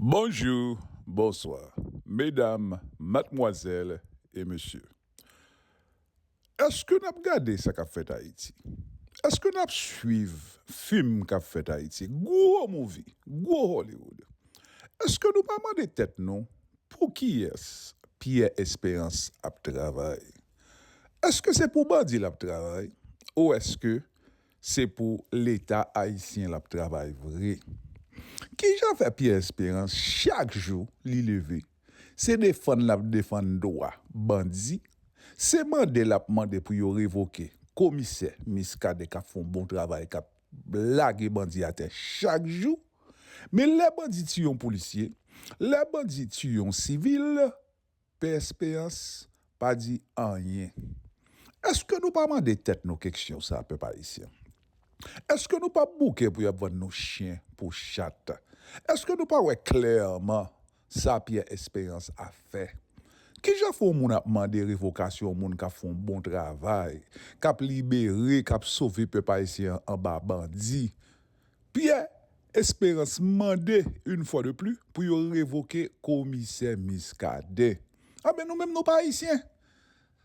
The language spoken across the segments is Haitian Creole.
Bonjou, bonswa, medam, matmwazèl e mesye. Eske nap gade sa kap fèt Ayiti? Eske nap swiv fim kap fèt Ayiti, gwo mouvi, gwo Hollywood? Eske nou pa mande tèt nou poukiyès Pierre Espérance ap travay? Eske se pou bandi lap travay ou eske se pou leta ayisyen lap travay vre? Kijan fè Pierre Esperance chak jou li leve se defann lap defann dwa bandi, se mande lap mande pou yo revoke komisè Miskaden kap fon bon travay kap lage bandi atè chak jou men lè bandi tiye yon polisye, lè bandi tiye yon sivil Pè Esperans pa di anyen. Eske nou pa mande tèt nou keksyon sa pèp ayisyen? Eske nou pa bouke pou yap vann nou chyen pou chat? Eske nou pa wè klèman sa Pyè Esperans ap fè? Kijan fè yon moun ap mande revokasyon yon moun kap fè yon bon travay, kap libere, kap sove pèp ayisyen anba bandi, Pyè Esperans mande yn fwa de pli pou yo revoke komisè Miskaden. Anben nou menm nou pa ayisyen?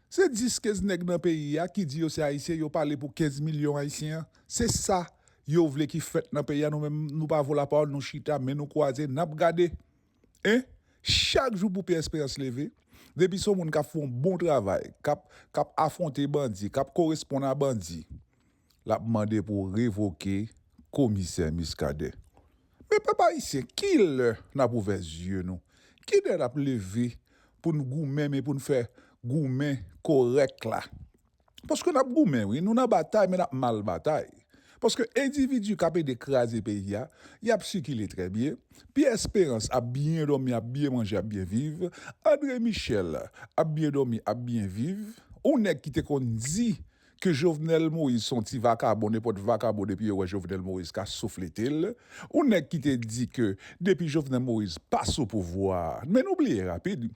Se 10 kez nèg nan peyi a ki di yo se ayisyen yo pale pou 15 milyon ayisyen an? Se sa yo vle ki fèt nan peyi a nou menm nou pa vo lapawòl nou chita men nou kwaze nap gade en chak jou pou Pyè Esperans leve depi son moun kap fon bon travay kap kap afwonte bandi kap koresponn a bandi L ap mande pou revoke komisè Muscadin. Men pèp ayisyen, ki lè n ap ouvè zye nou? Ki lè n ap leve pou n goumen men pou n fè goumen korèk la? Paske n ap goumen wi, nou nan batay men n ap mal batay. Paske endividi k ap ede kraze peyi a, y ap sikile trè byen. Pyè Esperans ap byen dòmi, ap byen manje, ap byen viv. Andre Michèl ap byen dòmi, ap byen viv. Yon nèg ki te konn di Ke Jovenel Moïse son ti vakabon nenpòt vakabon depi yo wè Jovenel Moïse ka soufletel ou nèg ki te di ke depi Jovenel Moïse pa sou pouvwa men nou bliye rapid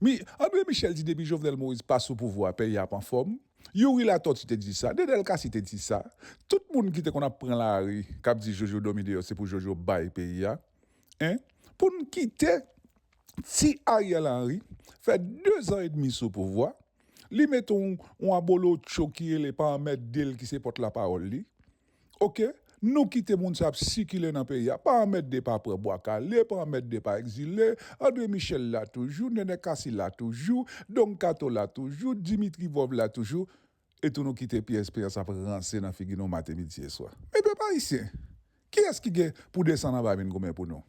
wi Andre Michel di depi Jovenel Moïse pa sou pouvwa peyi a ap anfòm Youri Latortue te di sa Dedel Cassy te di sa tout moun ki te konn ap pran lari kap di Jojo dòmi deyò se pou Jojo bay peyi a en poun kite ti Ariel Henry fè 2 zan edmi sou pouvwa Li met yon yon abolotcho ki rele pa anmèdel ki se pòt la pawòl li ok nou kite moun sa ap sikile nan peyi a pa anmède pa pran bwa kale pa anmède pa ekzile andre michel la toujou nènè kasi la toujou don kato la toujou dimitri vòv la toujou etou nou kite pyè esperans ap ranse nan figi nou mate midi e swa men pèp ayisyen kiyès ki gen pou desann anba vin goumen pou nou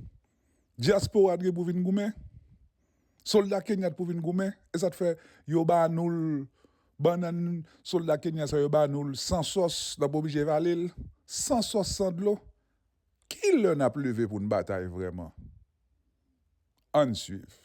Diaspora t gen pou vin goumen? Solda Kenya t pou vin goumen? E sa t fè yo ba nou l bannann solda Kenya sa yo ba nou l san sòs n ap oblije vale l san sòs san dlo? Ki lè n ap leve pou n batay vrèman? Ann swiv.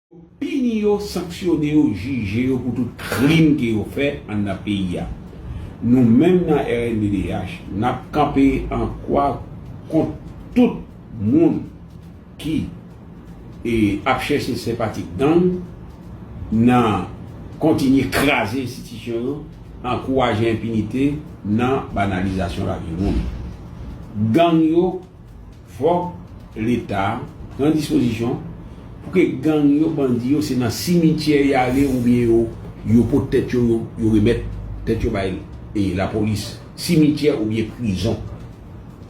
pini yo, sanksyone yo, jije yo pou tout krim ke yo fè anndan peyi a. Nou menm nan rnddh, n ap kanpe an kwa kont tout moun ki ap chèche senpati gang nan kontinye kraze enstitisyon yo, ankouraje enpinite nan banalizasyon lavi moun. Gang yo. Fòk leta pran dispozisyon pou ke gang yo bandi yo se nan simityè yale ou byen yo yo pot tèt yo yo remèt tèt yo bay la polis simityè ou byen prizon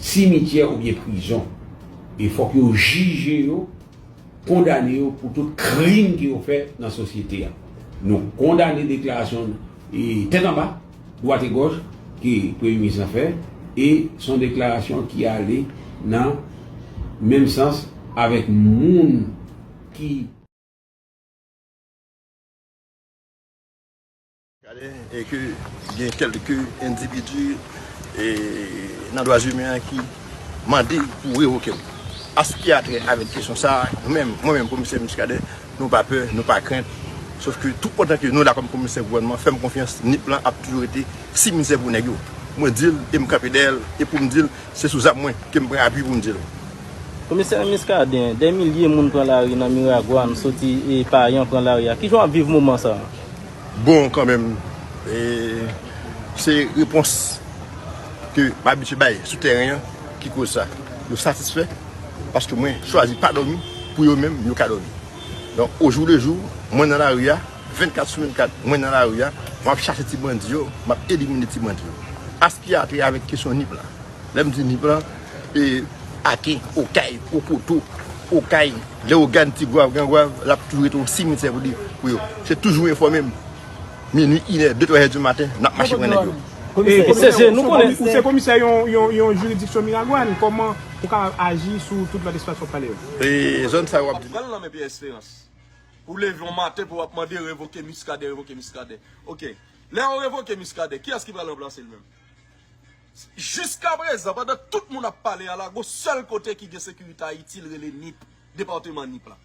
simityè ou byen prizon e fòk yo jije yo kondane yo pou tout krim ke yo fè nan sosyete a nou kondane deklarasyon tèt anba. Dwat e gòch ke Premye Minis lan fè e s on deklarasyon ki ale nan menm sans avèk moun ki. Gade e ke gen kèlke endividi e nan dwazimen an ki mande pou revoke l. An s ki a trè avèk kesyon sa a, nou menm, mwen menm Komisè Miskaden, Nou pa pè, nou pa krent. Sof ke tout otan ke nou la kòm komisè gouvènman, fèm konfyans, nip lan ap toujou rete si mizè pou nèg yo. Mwen dil e m kanpe dèyèl e poum dil se sou zam mwen ke m pran apui poum dil. Komisè Muscadin, dè milye moun pran lari nan Miragwàn soti e Payan pran lari a. Kijan w ap viv moman sa a? Bon kanmenm, se repons ke m abitye bay sou tèren an. Ki koz sa? Yo satisfè paske mwen chwazi pa dòmi pou yo menm yo ka dòmi. Donk ojou le jou mwen nan lari a 24 sou 24 mwen nan lari a map chache ti bandi yo map elimine ti bandi yo. A se ki atre avèk kesyon nip la. Lè m di nip la e Aken, Okay, Okoto, Okay, Leogane, Tigwav, Grangwav lap toujou rete yon simitye pou yo. Se toujou enfòme m. Minuit, inè, de twazè di maten, n ap mache pran nèg yo. Komisè, ou se komisè yon jiridiksyon Miragwàn, kòman ou kapab aji sou tout lòt espas w ap pale yo? Zòn sa yo w ap di la. Ou ap pran l nan men Pyè Esperans. Pou w leve yon maten pou w ap mande revoke Miskaden, revoke Miskaden. Ok. Lè yo revoke Miskaden, kiyès ki pral ranplase l menm? Jiskaprezan, pandan tout moun ap pale alago, sèl kote ki gen sekirite Ayiti l rele Nip, depateman Nip la.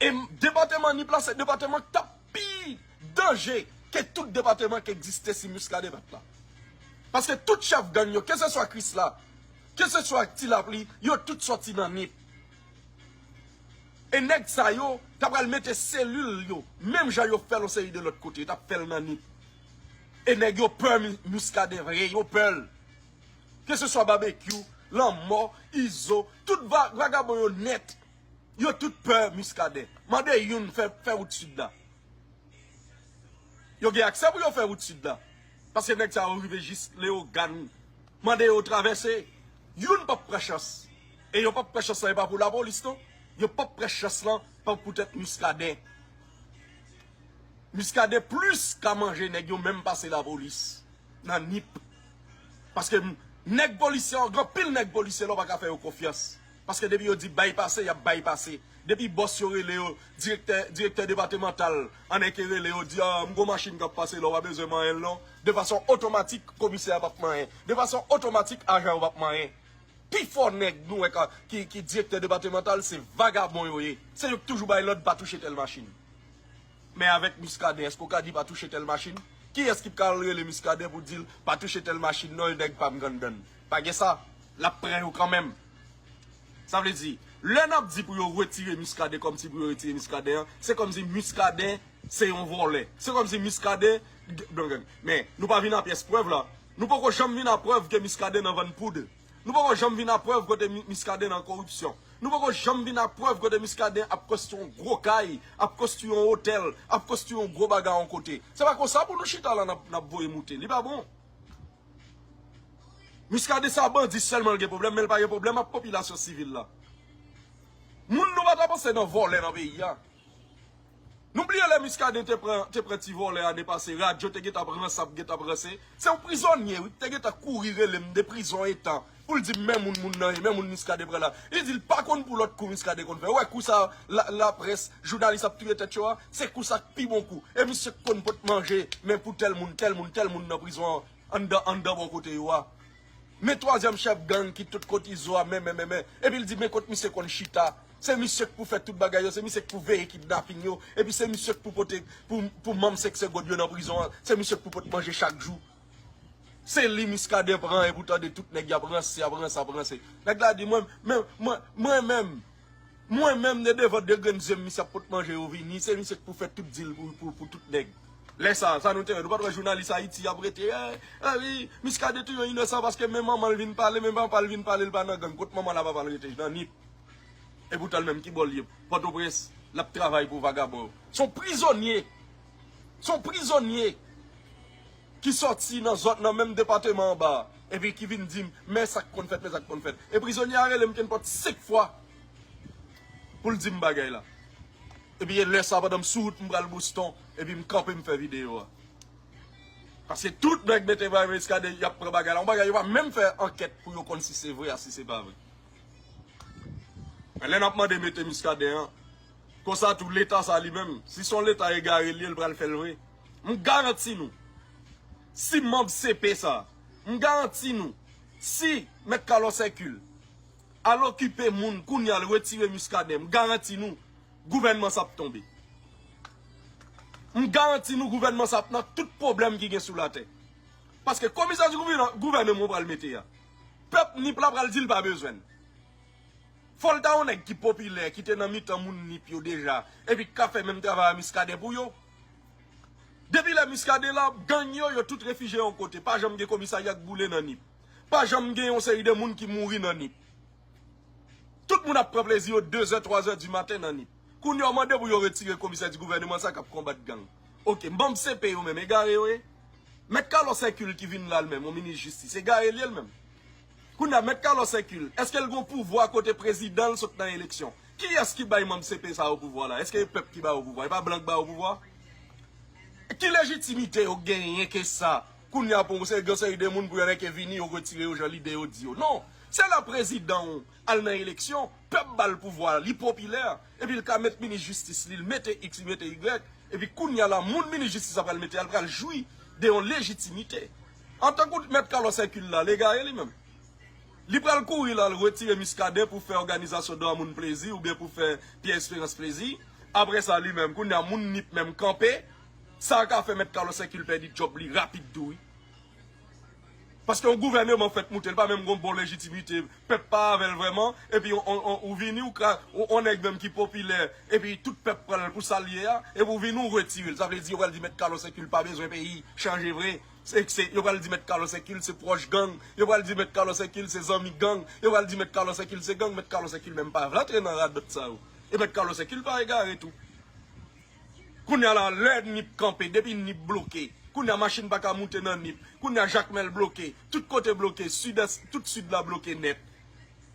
E depateman Nip la se depateman k t ap. pi danje ke tout depateman ki egziste si Muscadin pat la. Paske tout chèf gang yo, ke se swa Krisla, ke se swa Ti Lapli, yo tout sòti nan Nip. E nèg sa yo ta pral mete selil yo, menm jan yo fè l yon seri de lòt kote, yo tap fè l nan Nip. E nèg yo pè Muscadin vre, yo pè l. Ke se swa Babekyou, Lanmò, Izo, tout vagabon yo nèt. Yo tout pè Muscadin. Mande youn fè fè wout sud la. Yo gen aksè pou yo fè wout sud la. Paske nèg sa yo rive jis Leogan. Mande yo travèse. Youn pap pran chans. E yo pap pran chans la e pa pou la polis non. Yo pap pran chans la pa pou tèt Muscadin. Muscadin plis ka manje nèg yo menm pase la polis. Nan nip. Paske nèg polisye yo gen pil nèg polisye la ou pa ka fè yo konfyans. paske depi yo di bay pase yap bay pase depi bòs yo rele yo direktè direktè depatemantal an eke rele yo di m gon machin kap pase la ou pa bezwen manyen l non de fason otomatik komisè a pap manyen de fason otomatik ajan yo pap manyen pi fò nèg nou wè ka ki ki direktè depatemantal se vagabon yo ye se yo k toujou bay lòd pa touche tèl machin men avèk miskaden èske ou ka di pa touche tèl machin kiyès ki pkal rele miskaden pou di l pa touche tèl machin non e nèg pam ganndann. Pa gen sa, lap pran yo kanmenm. Sa vle di, lè nap di pou yo retire Muscadin kòm si pou yo retire Muscadin an, se kòm si Muscadin se yon vòlè. Se kòm si Muscadin, men nou pa vin a pyès prèv la. Nou poko janm vin a prèv ke Muscadin nan vann poud. Nou poko janm vin a prèv kote Muscadin nan koripsyon. Nou poko janm vin a prèv kote Muscadin ap konstwi yon gwo kay, ap konstwi yon otèl, ap konstwi yon gwo bagay yon kote. Se pa konsa pou nou chita la nap voye moute. Li pa bon. Muscadin sa bandi selman l gen problem men l pa gen problem ap popilasyon sivil la moun nou pata panse nan volè nan peyi a nou bliye lè Muscadin te pran te pran ti volè ane pase radio te gentan ap ranse ap gentan ap ranse se yon prizonye wi ki te gentan kouri rele m de prizon etan Poul di men moun moun nan ye, men moun Muscadin pran la. Li di li pa konn pou lòt kou Muscadin konn fè. Ou wè kou sa laprès, jounalis ap touye tèt yo a? Se kou sa k pi bon kou. E misye k konn pot manje men pou tèl moun, tèl moun, tèl moun nan prizon an, anndan, anndan bò kote yo a. Men twazyèm chèf gang ki tout kot Izo a men, men, men, men. Epi l di men kot misye konn chita. Se misye k pou fè tout bagay yo, se misye k pou veye kidnaping yo. Epi se misye k pou pote, pou, pou manm 5 segond yo nan prizon an. Se misye k pou pot manje chak jou. Se li Muscadin pran epi ou tande tout nèg yap ranse yap ranse ap ranse. Nèg la di mwen men mwen mwen menm mwen menm de devan 2 grenn zyem misye ap pot manje yo vini se misye k pou fè tout dil pou pou pou tout nèg. Lè sa sa nou te wè nou pat wè jounalis ayiti yap rete eh wi Muscadin touye yon inosan paske men manman l vin pale men papa l vin pale l pa nan gang kot manman l a papa l rete nan nip epoutan l menm ki bò l ye pòtoprens lap travay pou vagabon yo son prizonye. Se yon prizonye ki sòti nan zòn nan menm depateman anba a epi ki vin di m men sa k konn fèt men sa k konn fèt. E prizonye a rele m kenpòt senk fwa pou l di m bagay la. Epi e lè sa a pandan m sou wout m pral Boston epi m kanpe m fè videyo a. Paske tout nèg mete bay Muscadin y ap pran bagay la. Yon bagay yo pa menm fè ankèt pou yo konn si se vre a si se pa vre. Men lè n ap mande mete Muscadin an Konsa tou leta sa li menm, si son leta egare li ye li pral fèl vre. M garanti nou, si manb CP sa, m garanti nou, si mèt Carlos Hercule al okipe moun kounya l retire Muscadin, m garanti nou gouvènman sa ap tonbe. M garanti nou gouvènman sa ap nan tout pwoblèm ki gen sou latè. Paske komisè di gouvènman pral mete a, pèp Nip la pral di l pa bezwen l. Fòl ta yon nèg ki popilè, ki te nan mitan moun Nip yo deja, epi ki ka fè menm travay a Miskaden pou yo. Depi lè Miskaden la, gang yo, yo tout refije yon kote. Pa janm gen komisarya k boule nan Nip. Pa janm gen yon seri de moun ki mouri nan Nip. Tout moun ap pran plezi yo dezè, twazè di maten nan Nip. Kounye a, w mande pou yo retire komisè di gouvèneman sa k ap konbat gang. Ok, manm CP yo menm, egare yo ye? Mèt Kalòs Èkil ki vin la l menm, yon minis jistis, egare l ye l menm? Kounye a, Mèt Carlos Hercule, èske l gen yon pouvwa kote prezidan l sot nan eleksyon? Kiyès ki bay manm CP sa yo pouvwa la? Èske e pèp ki ba yo pouvwa? E pa blan k ba yo pouvwa? Ki lejitimite yo genyen ke sa? Kounye a, pou yon seri, gen yon seri de moun, pou yo reke vini, yo retire yo jan lide yo di yo. Non! Se lè prezidan w al nan eleksyon, pèp ba l pouvwa a, li popilè, epi l ka met minis jistis li, l mete iks, li mete igrèk, epi kounye a la, moun minis jistis la pral mete a, l pral jwi de yon lejitimite. Ah tankou mèt Carlos Hercule la legare li menm. Li pral kouri la al retire Muscadin pou fè òganizasyon dwa moun plezi oubyen pou fè Pierre Esperance plezi. Aprè sa li menm kounya moun nip menm kanpe. Sa ka fè mèt Carlos Hercule pèdi djòb li rapid tou wi. Paske yon gouvèneman fèt moute li pa menm gon bon lejitimite Pèp pa avèl vrèman epi ou vini ou ka on nèg menm ki popilè epi tout pèp pranl pou sal ye a epi ou vini ou retirel sa vle di yo pral di mèt Carlos Hercule pa bezwen peyi chanje vre se yo pral di mèt Carlos Hercule se pwòch gang yo pral di mèt Carlos Hercule se zanmi gang yo pral di mèt Carlos Hercule se gang mèt Carlos Hercule menm pa vle antre nan radòt sa yo e mèt Carlos Hercule pa egare tou. Kounya la lè nip kanpe depi nip bloke kounya machin paka moute nan nip kounya jakmèl bloke tout kote bloke sud est tout sud la bloke nèt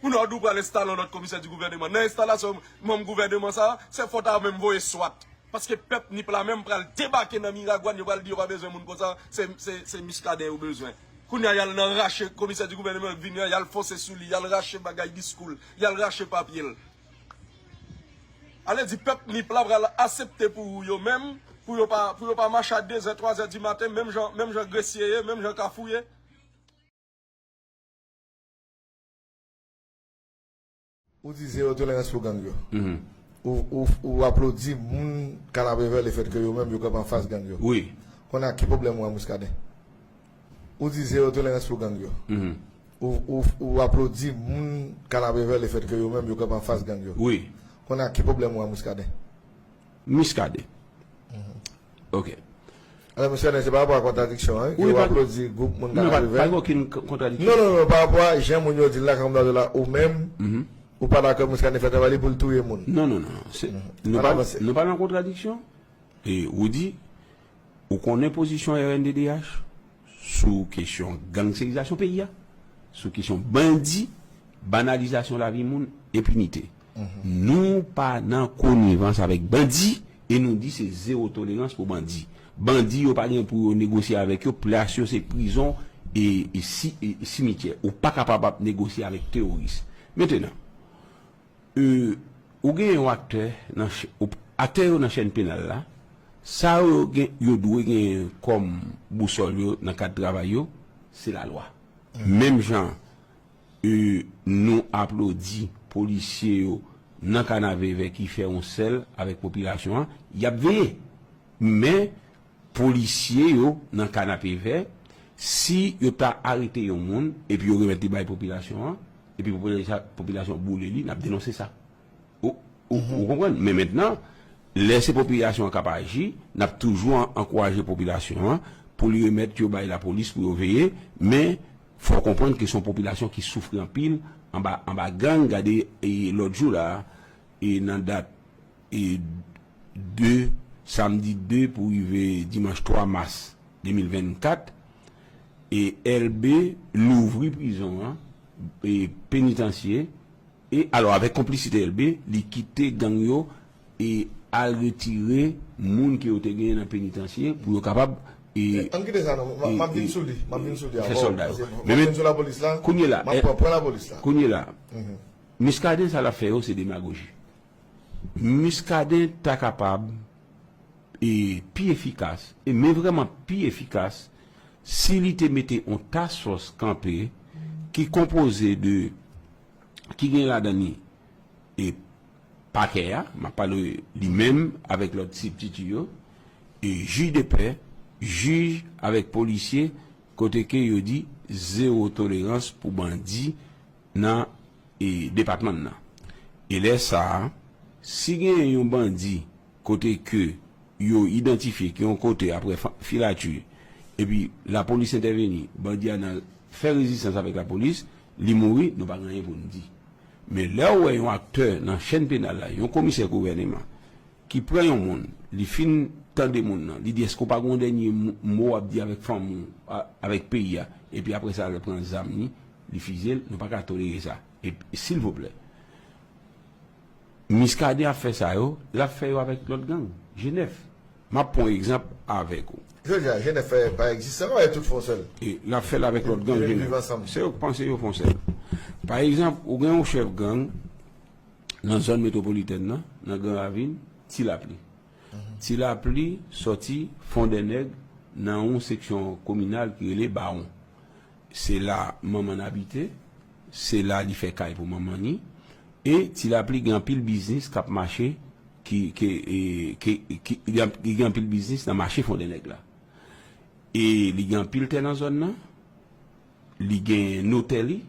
pou nord ou pral enstale yon lòt komisè di gouvèneman nan enstalasyon manm gouvèneman sa se fòt a menm voye swat paske pèp nip la menm pral debake nan miragwàn yo pral di yo pa bezwen moun konsa se muscadin yo bezwen kounya yal nan rache komisè di gouvèneman vini an yal fose souli yal rache bagay diskou l yal rache papye l Ale di pèp Nip la pral asepte pou yo menm pou yo pa pou yo pa mache a 2 zè 3 zè di maten menm jan menm jan gresye ye menm jan kafou ye. Ou di zero tolerans pou gang yo. Ou aplodi moun Kanapevè lefètke yo menm yo kanpe anfas gang yo. Konnya ki pwoblèm ou a Muscadin? Ou di zero tolerans pou gang yo. Ou aplodi moun Kanapevè le fèt ke yo menm yo kanpe anfas gang yo. Kounye a ki pwoblèm ou a Muscadin? Muscadin. Ok. Alò Muscadin se pa rapò a kontradiksyon an wi. Ou aplodi gwoup moun Kanapevè. Pa gen okenn kontradiksyon. Non non non pa rapò a jan moun yo di l la Kanpe Plato la ou menm ou pa dakò Muscadin fè travay li pou l touye moun. Non non non. Nou pa nan kontradiksyon. Ou di Ou konnen pozisyon rnddh sou kesyon gangsterizasyon peyi a, sou kesyon bandi, banalizasyon lavi moun, enpinite. Nou pa nan konivans avèk bandi e nou di se zewo tolerans pou bandi. Bandi yo pa gen pou yo negosye avèk yo, plas yo se prizon e simityè. Ou pa kapab ap negosye avèk teworis. Mentenan. Euh ou gen yon aktè nan aktè yo nan chèn penal la, sa yo gen yo dwe genyen kòm bousòl yo nan kad travay yo se lalwa. Menm jan euh nou aplodi polisye yo nan kanavevè ki fè yon sèl avèk popilasyon an, y ap veye. Men. Polisye yo nan kanapevè, si yo ta arete yon moun epi yo remèt li bay popilasyon an, epi popilasyon an boule li, n ap denonse sa. Ou konprann? Men mentnan, lè se popilasyon an k ap aji, n ap toujou ankouraje popilasyon an pou li remèt yo bay lapolis pou yo veye. Men, fò w konprann ke se yon popilasyon ki soufri anpil anba gang. Gade lòt jou la a, nan dat. e de samdi 2 pou rive dimanch 3 mas 2024 e elbe louvri prizon an e penitansye e alò avèk konplisite elbe li kite gang yo e al retire moun ke yo te genyen nan penitansye pou yo kapab e Ann kite sa non e map vin sou li map vin sou li avèw fè sòlda yo paske map vin sou lapolis la kounye la map pran pwen lapolis la kounye la Muscadin sa lap fè yo se demagoji. Muscadin ta kapab e pi efikas e men vreman pi efikas si li te mete on task force kanpe ki konpoze de ki gen ladan li e pakè a map pale li menm avek lot sibtiti yo e jij de pè jij avek polisye kote ke yo di zero tolerans pou bandi nan depatman nan e lè sa a si genyen yon bandi kote ke yo idantifye ki yon kote apre filati epi lapolis entèveni bandi a nan fè rezistans avèk lapolis li mouri nou pa gen anyen pou nou di men lè ou wè yon aktè nan chèn penal la yon komisè gouvèneman ki pran yon moun li fin tande moun nan li di èske ou pa gen yon dènye mo wap di avèk fanmi ou avèk peyi a epi apre sa lè pran zam li. Li fizyel nou paka tolere sa ep silvouplè miskaden ap fè sa yo lap fè yo avèk lòt gang jenèf map pwan egzanp avèk ou. Jodi a jenèf pa egzistan non e tout fon sèl. E lap fèl avèk lòt gang jenèf se yo ki panse yo fon sèl pa egzanp ou gen yon chèf gang nan zòn metwopolitèn nan nan gran ravin ti lapli ti lapli sòti fondènèg nan yon seksyon kominal ki rele bawon Se la manman n abite, se la li fè kay pou manman ni, e Ti Lapli gen anpil biznis k ap mache ki ke ke ki li gen anpil biznis nan mache Fondènèg la. E li gen anpil tè nan zòn nan, li gen notè li,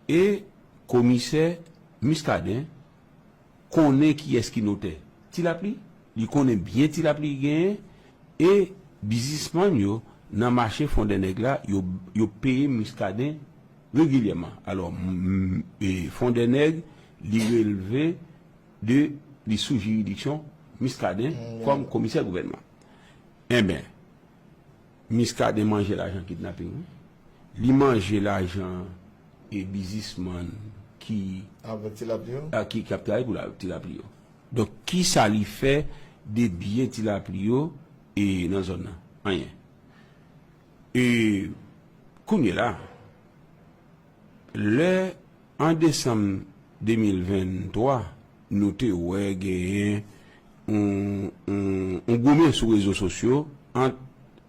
e komisè Muscadin, konnen kiyès ki notè Ti Lapli, li konnen byen Ti Lapli ki genyen e bizismann yo nan mache Fondènèg la yo yo peye Muscadin regilyèman alò e Fondènèg li relve de li sou jiridiksyon Muscadin kòm komisè gouvènman enben Miskaden manje lajan kidnaping wi. Li manje lajan e bizis man ki. Avek ti lapli yo. Ki ap travay pou ti lapli yo. Donk kisa li fè de byen ti lapli yo e nan zòn nan? Anyen. E kounye la. Lè, an desanm 2023, nou te wè genyen yon yon goumen sou rezo sosyo ant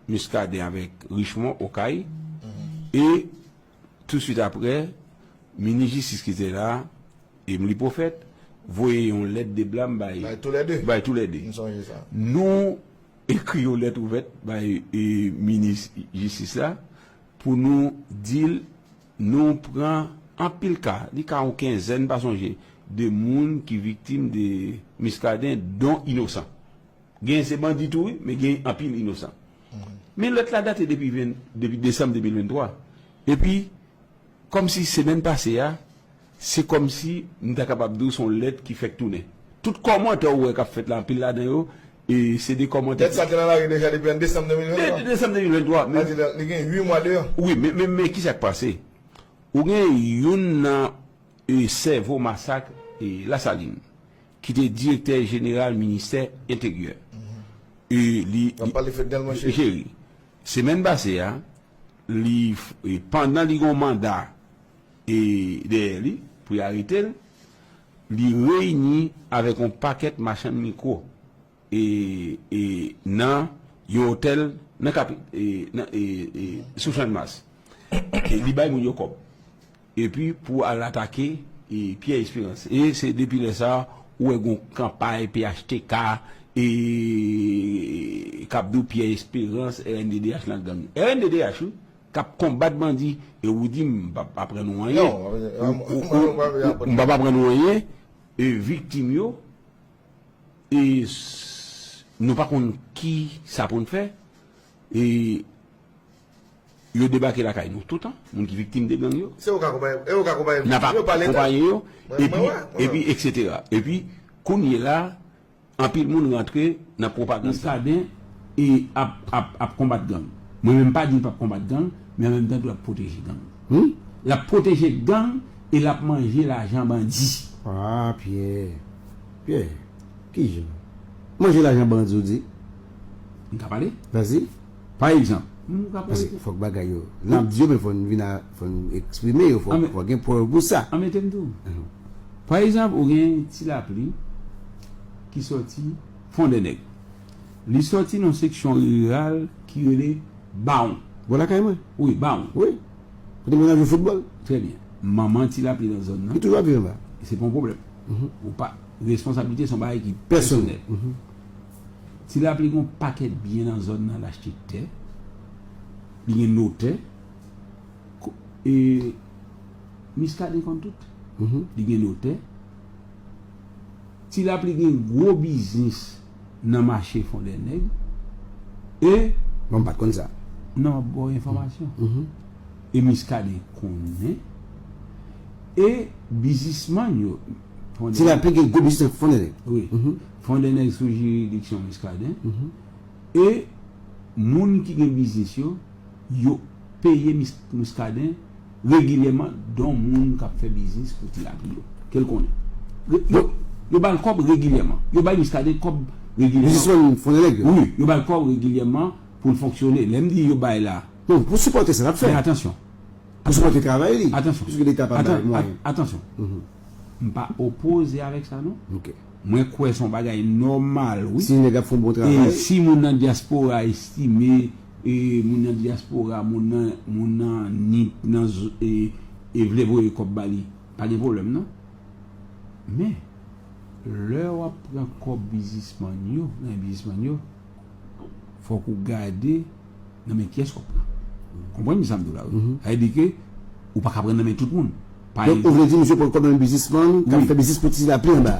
Muscadin avèk Richemond Okay e tousuit aprè, minis jistis ki te la, Emely Prophète, voye yon lèt de blam bay bay tou lè de. Nou ekri yon lèt ouvèt bay minis jistis la Pou nou di l, nou pran anpil ka, li ka yon kenzèn, m pa sonje, de moun ki viktim de Muscadin, don inosan. Gen se bandi tou wi, men gen anpil inosan. Men lèt la date depi depi desanm 2023. Epi, kòmsi semèn pase a, Se kòmsi m ta kapab di w se yon lèt ki fèk tounen. Tout kòmantè ou wè k ap fèt la, anpil ladan yo, se de kòmantè ki. Lèt sa te nan lari deja depi an desanm 2023. Depi desanm 2023, men. Sa vle di li gen ui mwa deyò. Wi, men, men ki sa k pase? Ou gen youn nan sèvo masak Lasalin ki te direktè jeneral ministè Enteryè. Li. N ap pale Fednel Monchery. Monchery. Semèn pase a, li, pandan li gen yon manda dèyè li pou y arete l, li reyini avèk yon pakèt machann mikwo nan yon otèl sou Channmas. Li bay moun yo kòb epi pou al atake Pyè Esperans. E se depi lè sa a ou wè gen yon kanpay phtk k ap di w Pyè Esperans rnddh nan gang. Rnddh wi! Kap konbat bandi e ou di m pap aprann ou anyen m pap aprann ou anyen e viktim yo e nou pa konn ki sa pou n fè e yo debake lakay nou toutan moun ki viktim de gang yo nap akonpaye yo epi eksetera epi kounye la Anpil moun rantre nan pwopagand sa. Muscadin e ap ap ap konbat gang. Mwen menm m pa di l pap konbat gang, men an menm tan tou lap pwoteje gang. Wi, lap pwoteje gang e lap manje lajan bandi. Ah Pierre, Pierre, kijan? Manje lajan bandi ou di? M ka pale? Vas-y. Pa egzanp, paske fòk bagay yo, lè n ap di yo men fò n vin a, fò n eksprime yo, fò gen prèv pou sa. Anmete m di w, pa egzanp ou gen ti lapli ki sòti Fondènèg, li sòti nan seksyon riral ki rele Bawon. Bò lakay mwen. Wi, Bawon. Wi. Kote moun ap jwe foutbòl. Trè byen. Manman ti lapli nan zòn nan. Li toujou ap viv anba. Se pa yon pwoblèm. Ou pa, responsablite se yon bagay ki pèsonèl. Ti lapli gen yon pakèt byen nan zòn nan, l achte tè, li gen notè, e Miskaden konn tout, li gen notè. Ti lapli gen gwo biznis nan mache Fondènèg e. Mwen pa t konn sa. Non, m ap ba w enfòmasyon. E Miskaden konnen e bizismann yo. Ti lapli gen gwo biznis nan Fondènèg. Wi. Fon de nèg sou jiridiksyon Muscadin e moun ki gen biznis yo, yo peye Muscadin regilyèman don moun kap fè biznis pou ti lapli yo, kel konnen. Yo bal kòb regilyèman. Yo bay Muscadin kòb regilyèman. Biznisman fon de nèg yo? Wi, yo bal kòb regilyèman poul fonksyone. Lèm di yo bay la. Non, pou sipòte sa lap fè. Men atansyon. Pou sipòte travay li. Atansyon. Piske leta pa bay mwayen. Atansyon. Mpa opoze avèk sa non. Ok. Mwen kwè son bagay nòmal wi. Si nèg ap fon bon travay. E si moun nan diaspora estime e moun nan diaspora moun nan moun nan nip nan e e vle voye kòb ba li pa gen pwoblèm non. Men lè wap pran kòb bizismann yo nan men bizismann yo fòk ou gade nan men kiyès wap pran. Ou konprann sa m di w la wi. Sa vle di ke ou paka pran nan men tout moun. Donk ou vle di misye pran kòb nan men bizismann kap fè biznis pou ti la pi anba.